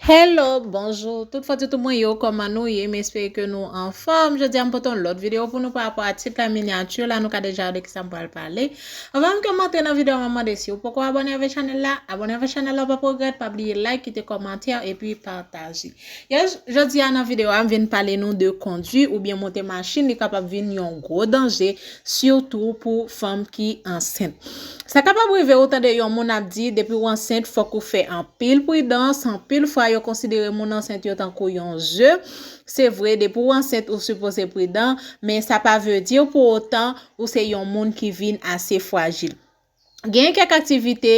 Hello bonjour tout fò toutou mwen yo kòman nou ye m espere ke nou anfòm jodi a m pote yon lòt video pou nou pa rapò a tit la miniature la nou ka deja wè de kisa m pral pale anvan m ke m antre nan video map mande si ou poko abòne avè chanèl la abòne avè chanèl la w pap regrèt pa bliye like kite kòmantè epi pataje yes jodi a nan video a m vin pale nou de kondwi oubyen monte machin li kapab vin yon gwo danje sitou pou fanm ki ansent. Sa kapab rive ou tande yon moun ap di depi ou ansent fòk ou fè anpil pridans, anpil fwa yo konsidere moun ansent yo tankou yon ze, se vre depi ou ansent ou sipoze pridan, men sa pa vle di pou otan ou se yon moun ki vin ase fwajil. Genyen kèk aktivite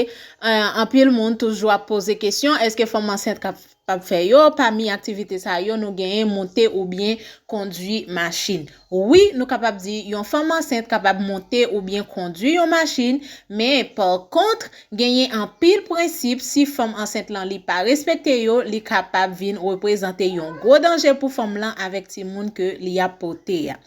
anpil moun toujou ap poze kesyon, eske fanm ansent kap fè yo, pami aktivite sa yo nou genyen monte oubyen kondwi machin. Wi nou kapab di yon fanm ansent kapab monte oubyen kondwi yon machin, men pa kont genyen anpil prensip si fanm ansent lan li pa respekte yo, li kapab vin reprezante yon gwo danje pou fanm lan avèk timoun ke li ap pote a.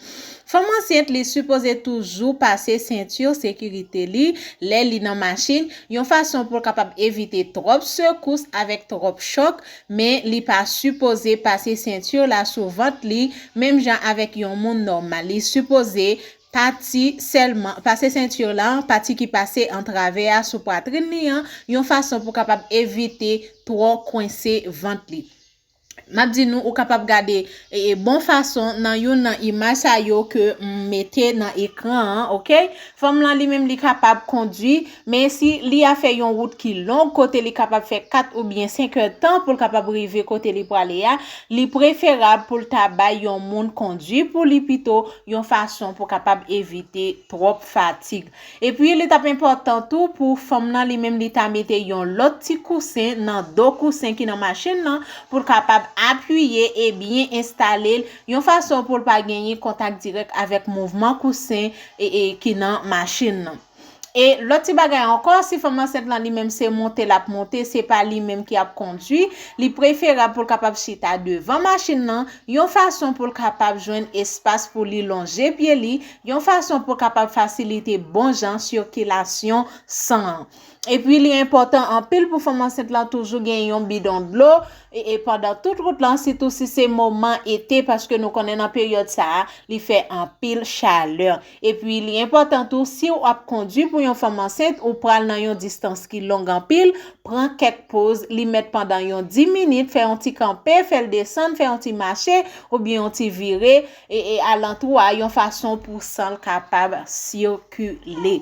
Fanm ansent li sipoze toujou pase sentir sekirite li lè li nan machin, yon fason pou l kapab evite twòp sekous avèk twòp chòk, men li pa sipoze pase sentir la sou vant li menm jan avèk yon moun nòmal, li sipoze pati sèlman pase sentir la pati ki pase antravè a sou pwatrin li an yon fason pou kapab evite twò kwense vant li. M ap di nou, ou kapab gade bon fason nan youn nan imaj sa yo ke m mete nan ekran an, ok. Fanm lan li menm li kapab kondwi, men si li a fè yon wout ki long, kote li kapab fè 4 ou byen 5 è tan pou l kapab rive kote li prale a, li preferab pou l ta bay yon moun kondwi pou li pito, yon fason pou kapab evite twòp fatig. Epi li t ap enpòtan tou pou fanm nan li menm li ta mete yon lòt ti kousen nan do kousen ki nan machin nan pou l kapab apiye e byen enstale l yon fason pou l pa genyen kontak dirèk avèk mouvman kousen ki nan machin nan. E lòt ti bagay ankò, si fanm ansent lan li menm se monte l ap monte, se pa li menm ki ap kondui, li preferab pou l kapab chita devan machin nan yon fason pou l kapab jwenn espas pou li lonje pye li yon fason pou kapab fasilite bon jan sikilasyon san an. Epi li enpòtan anpil pou fanm ansent lan toujou gen yon bidon dlo e pandan tout wout lan sitou si se moman ete paske nou konnen nan peryòd sa a li fè anpil chalè. Epi li enpòtan tou siw ap kondwi pou yon fanm ansent ou pral nan yon distans ki long anpil pran kèk poz li mèt pandan yon 10 minit fè yon ti kanpe fèl desann fè yon ti mache oubyen yon ti vire e alantou a yon fason pou san l kapab sikile.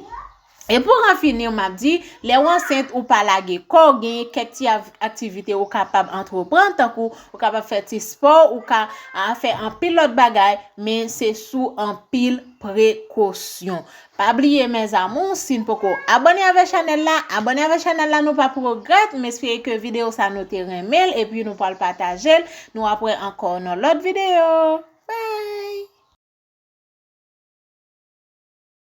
E pou an fini m ap di, lè w ansent ou pa lage kò w genyen kèk ti aktivite ou kapab antreprann tankou ou kapab fè ti spò ou ka fè anpil lòt bagay men se sou anpil prekosyon. Pa bliye mes amours sin poko abone avè chanel la abone avè chanel la nou pa progrèt m espere ke video sa nou te renmenl epi nou pwal patajel nou ap wè ankò nan lòt video bye.